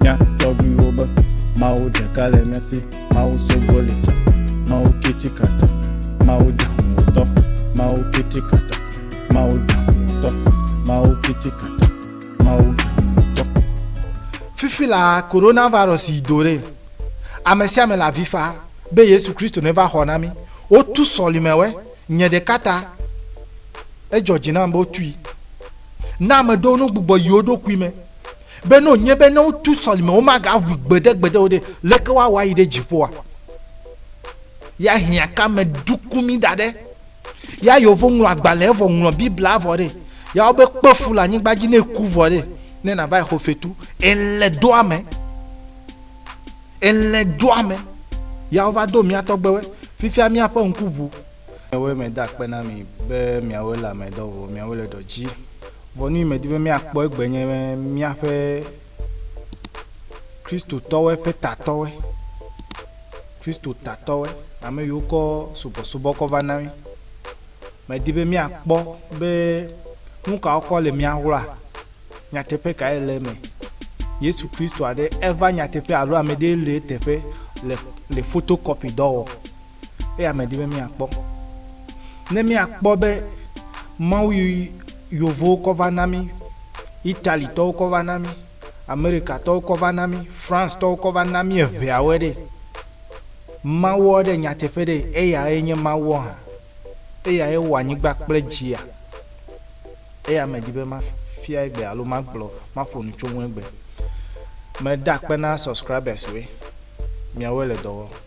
Mía tɔgbuiwo be, Mawu ɖeka le mía si, Mawu sogbo li sa, Mawu kitikata, Mawu dahumotɔ, Mawu kitikata, Mawu dahumotɔ, Mawu kitikata, Mawu dahumotɔ. Fifi la, coronavirus yi do ɖe. Amesiame le avifa be Yesu Kristo neva xɔ na mí. Wotu sɔlimewɔe. Nye ɖeka ta, edzɔ dzi nam be wotui. Na ameɖewo nogbugbɔ yi woɖokui me. Be ne wònye be ne wotu sɔlime womageaʋui gbeɖegbeɖe o ɖe, leke woawɔ ayi ɖe dziƒoa? Ya hiã ka me ɖuku mí da ɖe? Ya yewo ŋlɔ agbalẽ vɔ ŋlɔ Biblia vɔ ɖe, ya wobe kpe fu le anyigba dzi ne eku vɔ ɖe, ne nava exɔ fetu. Ele do ame. Ele do ame. Ya wova do mía tɔgbewe. Fifia míaƒe ŋku ʋu. Miawoe meda akpe na mi be miawoe le ame dɔ vɔ miawoe le dɔ dzi vɔ. Nuyi medi be miakpɔ egbe nye be miaƒe Kristotɔwoe ƒe tatɔwoe, Kristo tatɔwoe, ame yiwo kɔ subɔsubɔ kɔ va na mi. Medi be miakpɔ be nukawo kɔ le mia ŋlɔa, nyateƒe kae le eme. Yesu Kristo aɖe eva nyateƒe alo ame ɖee le eteƒe le le photocopy dɔ wɔ. Eya medi be míakpɔ. Ne míakpɔ be Mawu yi yovowo kɔ va na mí, Italitɔwo kɔ va na mí, Amerikatɔwo kɔ va na mí, Francetɔwo kɔ va na mí eŋeawoe ɖe, Mawuɔ ɖe nyateƒe ɖe eyae nye Mawuɔ hã? Eyae wɔ anyigba kple dzia? Eya medi be mafia egbe alo magblɔ maƒo nu tso ŋu egbe. Meda akpe na subscribers woe. Miawoe le dɔ wɔm.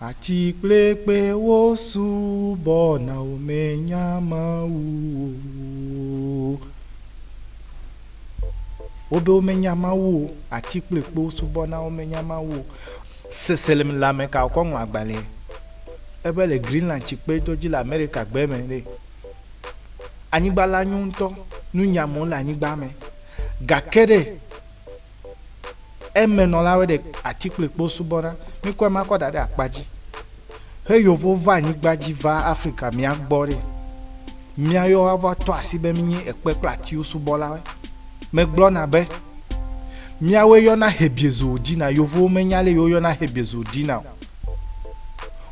Ati kpekpewo subɔna wò menya Mawu o. Wo be womenya Mawu o. Ati kpekpewo subɔna wo menya Mawu o. Seselem le ameka wòkɔ ŋlɔ agbalẽ ebe le Greenland tsikpe dɔ dzi le Amerika gbe me ɖe. Anyigba la nyo ŋutɔ. Nu nyam wole anyigba me. Gake ɖe. Emenɔlawoe ɖe ati kple kpo subɔna. Mikɔ ema kɔ da ɖe akpa dzi. He yovo va anyigba dzi va Afrika mía gbɔ ɖe. Míayɔ woava tɔ asi be mínye ekpe kple atiwo subɔlawoe. Megblɔna be, Míawoe yɔna Hebiezowo dina. Yovowo menya ale yi woyɔna Hebiezowo dina o.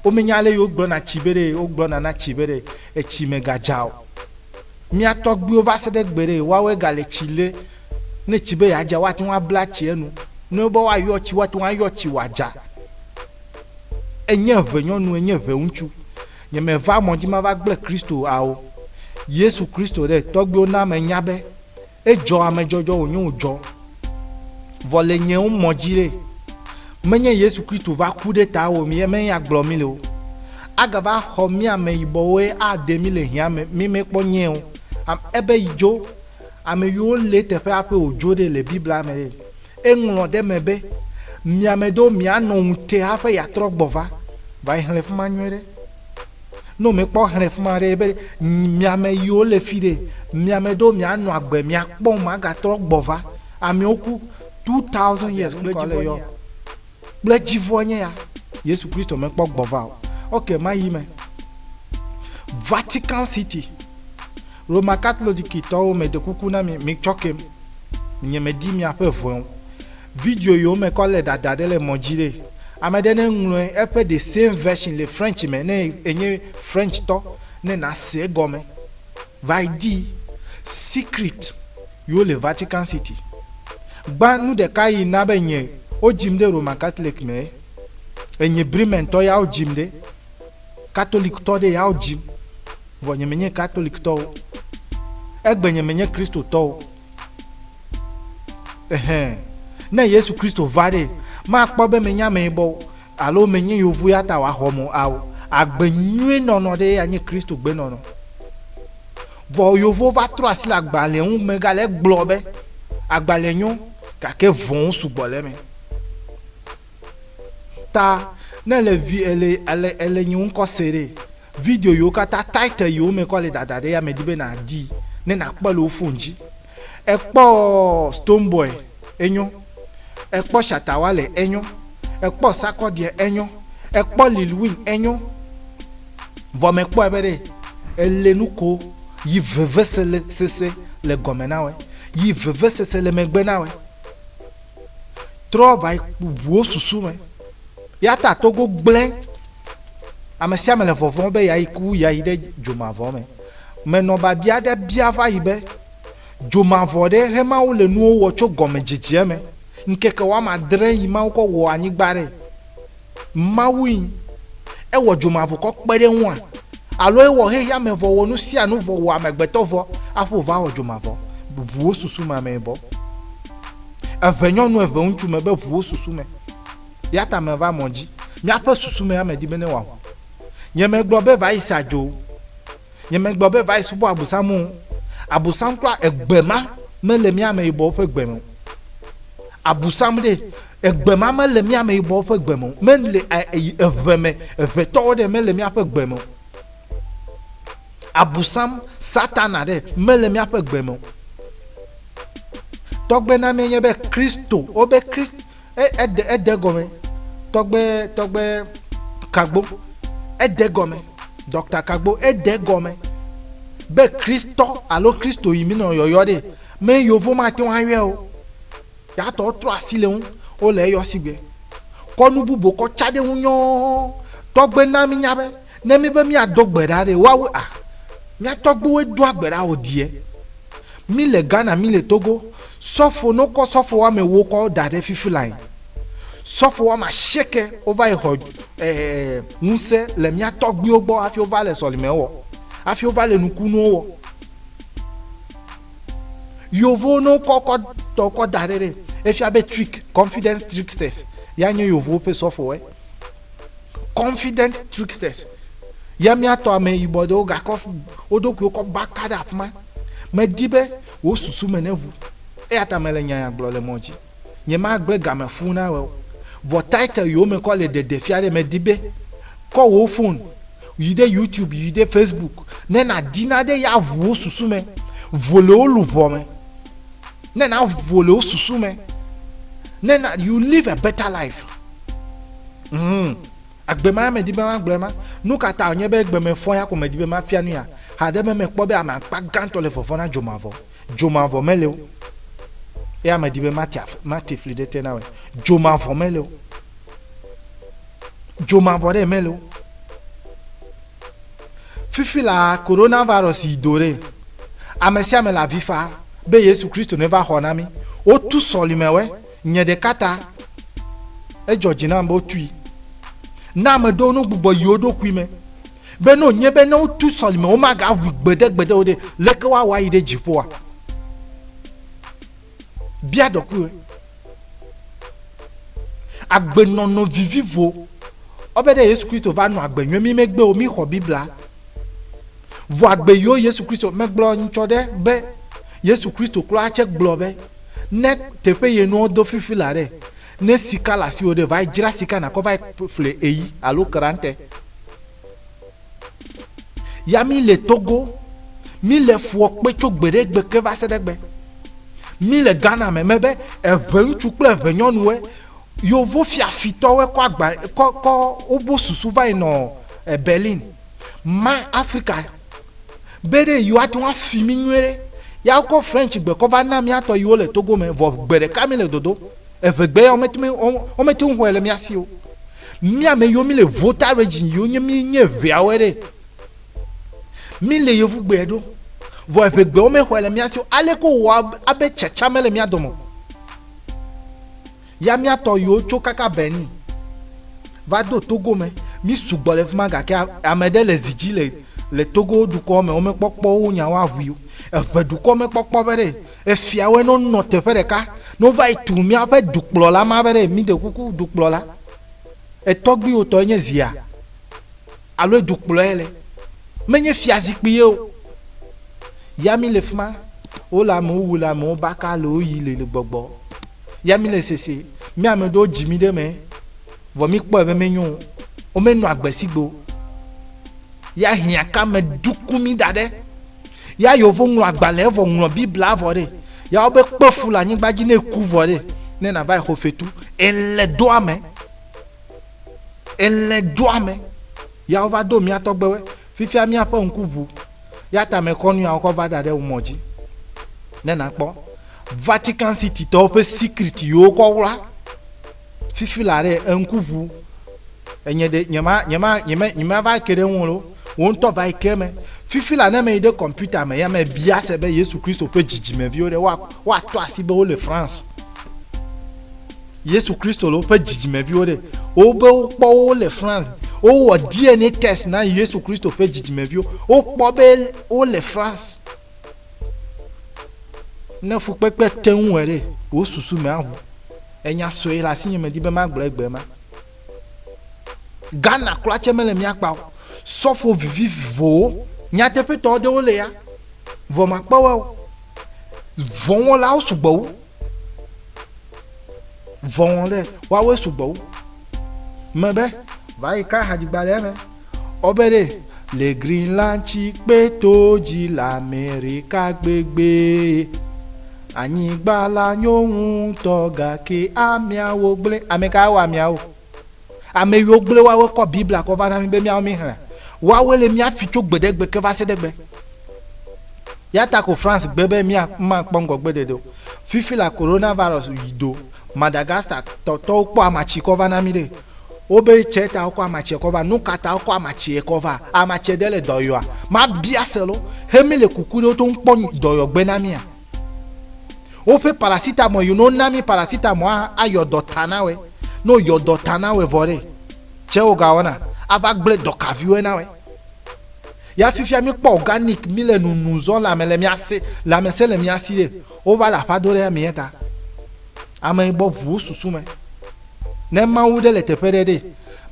Womenya ale yi wogblɔna tsi be ɖe wogblɔna na tsi be ɖe etsi megadza o. Mía tɔgbuiwo va se ɖe gbe ɖe woawoe gale tsi lé. Ne tsi be yeadza, woate ŋu abla tsi enu. Ne wobe woayɔ tsi, woate ŋu ayɔ tsi wòadza. Enye ʋe nyɔnu, enye ʋe ŋutsu. Nye meva mɔ dzi mava gblẽ Kristo ao. Yesu Kristo ɖe, tɔgbuiwo na menya be edzɔ amedzɔdzɔ wònye wòdzɔ. Vɔ le nye ŋu mɔ dzi ɖe, menye Yesu Kristo va ku ɖe ta wò mi eme ya gblɔ mi le o. Agava xɔ mí ame yibɔwoe ade mí le hiã me, mí me kpɔ nyee o. Am, ebe yi dzo. Ameyio lé teƒe aƒe wòdzo ɖe le Biblia me ɖe? Eŋlɔ ɖe eme be, Mia me ɖewo mianɔ ŋute haƒe yeatrɔ gbɔ va. Va yi xlẽ fi ma nyuie ɖe. Ne wòmekpɔ xlẽ fi ma ɖe, ebe, Mia me yiwo le fi ɖe, mia me ɖewo mianɔ agbe, miakpɔm, magatrɔ gbɔ va. Amewo ku 2000 years kple dzivɔ nye ya. Kple dzivɔ nye ya. Yesu Kristo mekpɔ gbɔ va o. Ok, mayi me. Vatican City. Roma Katlolikitɔwo meɖe kuku na mi, mitsɔkem, nye medi miaƒe ʋɔe o. Video yiwo mekɔ le ɖaɖa ɖe le mɔ dzi ɖe, ame ɖe ne ŋlɔe eƒe the same version le French me ne enye French tɔ ne nase egɔme. Va yi di secret yiwo le Vatican City. Gbã nu ɖeka yi na be nye wo dzim ɖe Roma Katlik mee. Enye Bremen tɔ ya wo dzim ɖe. Katoliktɔ ɖe yawo dzim, vɔ nye menye Katoliktɔ o. Egbe nye menye Kristotɔ o. Ehɛn. Ne Yesu Kristo va ɖe, makpɔ be menye ameyibɔ o, alo menye yovo ya ta wòaxɔm o, ao, agbe nyui nɔnɔ ɖee anye Kristo gbenɔnɔ. Vɔ yovowo va trɔ asi le agbalẽa ŋu megale egblɔ be, Agbalẽ nyo, gake vɔ̃wo sugbɔ le eme. Ta ne le vi ele ele ele nye ŋkɔ se ɖe video yiwo katã title yiwo me kɔ le dada ɖe ya me di be na di ne na kpɔ le wo phone dzi ekpɔ stone boy enyo ekpɔ shatawa le enyo ekpɔ sakɔ die enyo ekpɔ lil win enyo vɔ me kpɔ ebe ɖe ele nu ko yi veve sele sese le gɔme na we yi veve sese le megbe na we trɔ va yi ku ʋuwo susu me. Ya ta Togo gblẽ. Ame sia ame le vɔvɔ̃ be yeayi ku ya yi ɖe dzomavɔ me. Menɔ biabia aɖe bia va yi be, Dzomavɔ ɖe he Mawu le nuwo wɔ tso gɔmedzedzea me ŋkeke woame adre yi Mawu kɔ wɔ anyigba ɖe? Mawue nyi. Ewɔ dzomavokɔ kpe ɖe eŋua? Alo ewɔ xexeame vɔ wɔ nu sia nu vɔ wɔ amegbetɔ vɔ aƒo va wɔ dzomavɔ? Ʋu wo susu me amee bɔ. Eʋe nyɔnu eʋe ŋutsu me be ʋu wo susu me. Yata me va mɔ dzi. Míaƒe susu me ame di be ne wɔ aʋu. Nye megblɔ be va yi sa dzo. Nyemegblɔ be va yi subɔ Abosam o. Abosam klɔ egbe ma mele mía ameyibɔwo ƒe gbe me o. Abosam ɖe, egbe ma mele mía ameyibɔwo ƒe gbe me o. Mele yi eve me, evetɔwo ɖe mele míaƒe gbe me o. Abosam, Satana ɖe, mele míaƒe gbe me o. Tɔgbe na mía nye be Kristo, wobe Kristo. E, ede, ede gɔme. Tɔgbe, tɔgbe Kagbo, ede gɔme. Dɔkta Kagbo, ede gɔme. Be Kristɔ alo Kristo yi mi nɔ yɔyɔ ɖe. Me yovo ma te ŋu ayɔe o. Yatɔ trɔ asi le ŋu. Wo le eyɔ sigbe. Kɔ nu bubu kɔ tsa ɖe ŋu nyɔɔ. Tɔgbe na mi nya be, ne mi be mi ado gbe ɖa ɖe, woawu a? Mia tɔgbewoe doa gbe ɖa o die. Mi le Ghana mi le Togo sɔfo no kɔ sɔfo wame wo kɔ da ɖe fifi lae sɔfo wame asieke wo va yi xɔ eh, ŋuse le mia tɔgbiwo gbɔ afi wo va le sɔlime wɔ afi wo va le nukunuwo wɔ yovo no kɔ kɔ tɔ kɔ da ɖe ɖe efia be trick confidence tricksters ya nye yovo pe sɔfo wɔ. confident tricksters ya míatɔ ame yibɔ ɖewo gakɔ wo ɖokuiwo kɔ baka ɖe afi ma medi be wò susu me neʋu eya ta mele nya ya gblɔ le mɔ dzi nyemagblẽ game fũu na wɔ vɔ title yiwo me kɔ le ɖeɖefia ɖe medi be kɔ wò fon yi ɖe youtube yi ɖe facebook ne nàdi na ɖe ya ʋu wo susu me vo le wo luʋɔ me ne na vo le wo susu me ne na you live a better life mm. agbe ma medi be magblɔe ma nu ka ta wònye be gbemefɔ ya ko medi be mafia nu ya haɖe be mekpɔ be ame akpa gãtɔ le vɔvɔ na dzomavɔ dzomavɔ mele o eya medi be mate fli ɖe te na wɔ dzomavɔ mele o dzomavɔ ɖe mele o Fifi la, coronavirus yi do ɖe. Ame sia ame le avi fa be Yesu Kristo neva xɔ na mí. Wotu sɔlimewɔe. Nye ɖeka ta, edzɔ dzi nam be wotui na ame ɖewo ne wogbugbɔ yi wo ɖokui me be ne wònye be ne wotu sɔlime womagaʋui gbeɖegbeɖe o ɖe, leke woawɔ ayi ɖe dziƒoa? Bia ɖokuiwò, agbenɔnɔ vivivo ɔbe ɖe Yesu Kristo va nɔ agbe nyuie mi megbe o, mi xɔ Biblia. Vɔ agbe yiwo Yesu Kristo megblɔ nyitsɔ ɖe be Yesu Kristo klɔ atse gblɔ be ne teƒe ye nuwo do fifi la ɖe, ne sika le asiwò ɖe, va yi dzra sika nakɔ va yi ƒle eyi alo krante. Ya mi le Togo, mi le fua kpe tso gbe ɖe gbe ke va se ɖe gbe. Mi le Ghana me me be eʋe ŋutsu kple eʋe nyɔnuwe yovo fiafitɔwe kɔ agba kɔ kɔ wobo susu va yi nɔ e Berlin ma Afrika be ɖe yiwo ate ŋu afi mi nyuie ɖe ya wokɔ French gbe kɔ va na miatɔ yiwo le Togo me vɔ gbe ɖeka mi le dodo eʋe gbe ya womete mi womete ŋu xɔe le mia si o. Mía me yo mi le vota region yo nye mi nye vea wɛ ɖe. Mi le yevu gbɛ ɖo. Vɔ eƒe gbɛ wo me xɔɛ le mía sio. Ale ko wɔ abe tsatsa me le mía dɔmɔ. Ya mía tɔ yo tso kaka Benin. Va do Togo me. Mi sugbɔ le fima gake ame ɖe le zidzi le le Togo dukɔ me wo me kpɔkpɔ wo nya wo ahui. Eƒe dukɔ me kpɔkpɔ be ɖe. Efiawoe ne wonɔ teƒe ɖeka, ne wova yi tu míaƒe dukplɔla ma be ɖe míde kuku dukplɔla, etɔgbuiwò tɔe nye zia? Alo edukplɔɛ le? Menye fiazikpui ye o. Ya mí le fi ma, wole amewo wu le amewo baka le wo yi le le gbɔgbɔ. Ya mí le sese, mía ame ɖewo dzi mí ɖe eme, vɔ mí kpɔe be menyo o, wo menɔa agbe sigbe o. Ya hiãkame ɖuku mí da ɖe. Ya yewovo ŋlɔ agbalẽ vɔ ŋlɔ Biblia vɔ ɖe. Ya wobe kpe fu le anyigba dzi ne ku vɔ ɖe. Ne nava xɔ fetu. Ele doa me. Ele doa me. Ya wova do mía tɔgbewe. Fifia míaƒe ŋku ʋu. Ya ta me kɔ nu ya wokɔ va da ɖe mɔ dzi. Ne nakpɔ. Vatican City tɔwo ƒe secret yewo kɔ wla. fifi la ɖe eŋku ʋu enye ɖe nyema nyema nyema nyema va ke ɖe ŋu lo wo ŋutɔ va ke me fifi la ne me yi ɖe kɔmputa me ya me bia se be Yesu Kristo ƒe dzidzimeviwo ɖe wa woatɔ asi be wo le France Yesu Kristo le woƒe dzidzimeviwo ɖe wo be wo kpɔ wo le France wo wɔ DNA test na Yesu Kristo ƒe dzidzimeviwo wo kpɔ be wo le France Ne fukpekpe te ŋu wɔ ɖe, wò susu me aʋu. Enya sɔe le asinye medi be magblɔ egbe ma. Ghana kura tse mele mía kpa o. Sɔfo vivivowo, nyateƒetɔ aɖewo le ya, vɔ makpɔwɔe o. Vɔwɔlawo sugbɔ wu. Vɔn ɖe wawe sugbɔ wo. Me be va yi ka hadzigba ɖe me. Ɔ be ɖe le Greenland tsi kpe to dzi le Amerika gbegbe. Anyigba la nyo ŋutɔ gake ameawo gblẽ. Ame kae wɔ ameawo? Ame yiwo gblẽ woawoe kɔ Biblia kɔ va na mí be míawo míexlẽ. Woawoe le mía fi tso gbeɖegbe ke va se ɖe gbe. Ya ta ko France gbe be mía makpɔ ŋgɔgbedodo. Fifi la coronavirus yi do Madagascar tɔ tɔwo kpɔ amatsi kɔ va na mí ɖe. Wobe tsɛ ta wokɔ amatsie kɔ va. Nu ka ta wokɔ amatsie kɔ va? Amatsie ɖe le dɔyɔa? Mabia se lo. He mí le kuku ɖe woto ŋkpɔ dɔyɔgbe na mía? Woƒe paracetamol yi no na mi paracetamol a ayɔ dɔ ta na wɛ. No yɔ dɔ ta na wɛ vɔ ɖe. Cɛ wo ga wɔna. Ava gble dɔ ka vi wɛ na wɛ. Ya fifia mi kpɔ organic mi le nunu zɔ la me le mi ase la me se le mi asi ɖe. Wo va le aƒa do ɖe mi eta. Ame yi bɔ ʋu wo susu me. Ne Mawu ɖe le teƒe ɖe ɖe.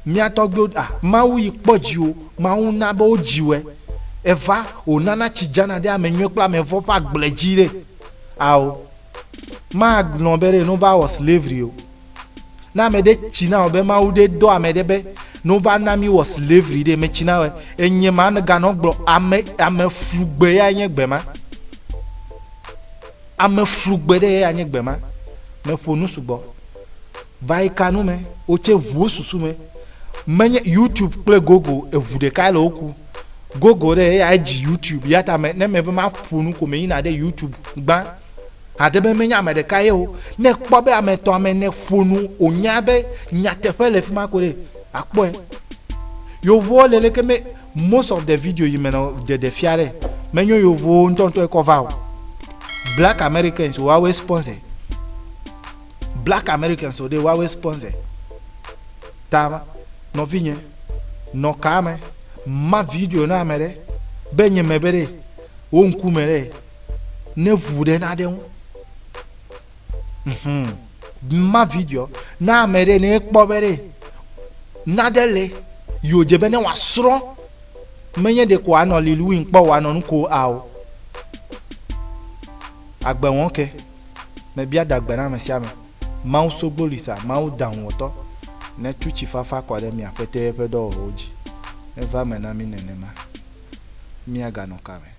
Mía tɔgbuiwo a, Mawu yi kpɔ dziwò, Mawu na be wo dziwɛ. Eva, wò nana tsi dzana ɖe ame nyuiɛ kple ame vɔ̃ ƒe agble dzi ɖe. Ao, ma gblɔ be ɖe no va wɔ slavery o. Ne ame ɖe tsi na wò be Mawu ɖe dɔ ame ɖe be no va na mí wɔ slavery ɖe, me tsi na wòɛ. Enye ma ne ga nɔ gblɔ, ame, ame flu gbe ya nye gbe ma. Ame flu gbe ɖe ya nye gbe ma. Me ƒo nu sugbɔ. Vayi ka nu me wo tse ʋu wo susu me menye YouTube kple Google eʋu ɖeka le wo ku Google ɖe eya edzi YouTube yata me ne me be ma ƒo nu ko me yina ɖe YouTube gbã aɖe be menye ame ɖeka ye o ne kpɔ be ame etɔ̃ ame ne ƒo nu o nya be nyateƒe le fi ma ko ɖe akpɔe yovowo le leke me most of the video yi me nɔ ɖeɖe fia ɖe menyo yovowo ŋutɔŋutɔ ekɔ va o black Americans woawe sponsor Black Americans o ɖe woawe sponsor ta ma. Nɔvinye, nɔ kaa me, ma video na ame ɖe, be nye me be ɖe, wo ŋku me ɖe, ne ʋu ɖe na ɖe ŋu. Hmm. Ma video na ame ɖe, ne ekpɔ be ɖe, na ɖe le, yo dze be ne wa srɔ, me nye ɖe ko anɔ Lil Win kpɔ wa nɔ nuko ao. Agbe wɔn ke. Mebia da gbe na ame sia ame, Mawu Sogbolisa, Mawu Dahuwɔtɔ, netu tsifafa kɔ ɖe mia kpetɛe ƒe dɔwɔwɔwo dzi. Neva eme na mí nenema. Míaganɔ ka me?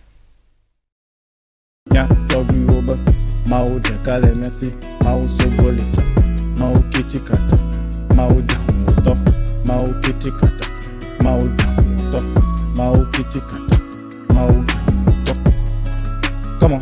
Nya tɔgbuiwo be, Mawu ɖeka le mía si, Mawu Sogbolisa, Mawu Kitikata, Mawu Dahuwɔtɔ, Mawu Kitikata, Mawu Dahuwɔtɔ, Mawu Kitikata. Mawu ŋutɔ. Come on.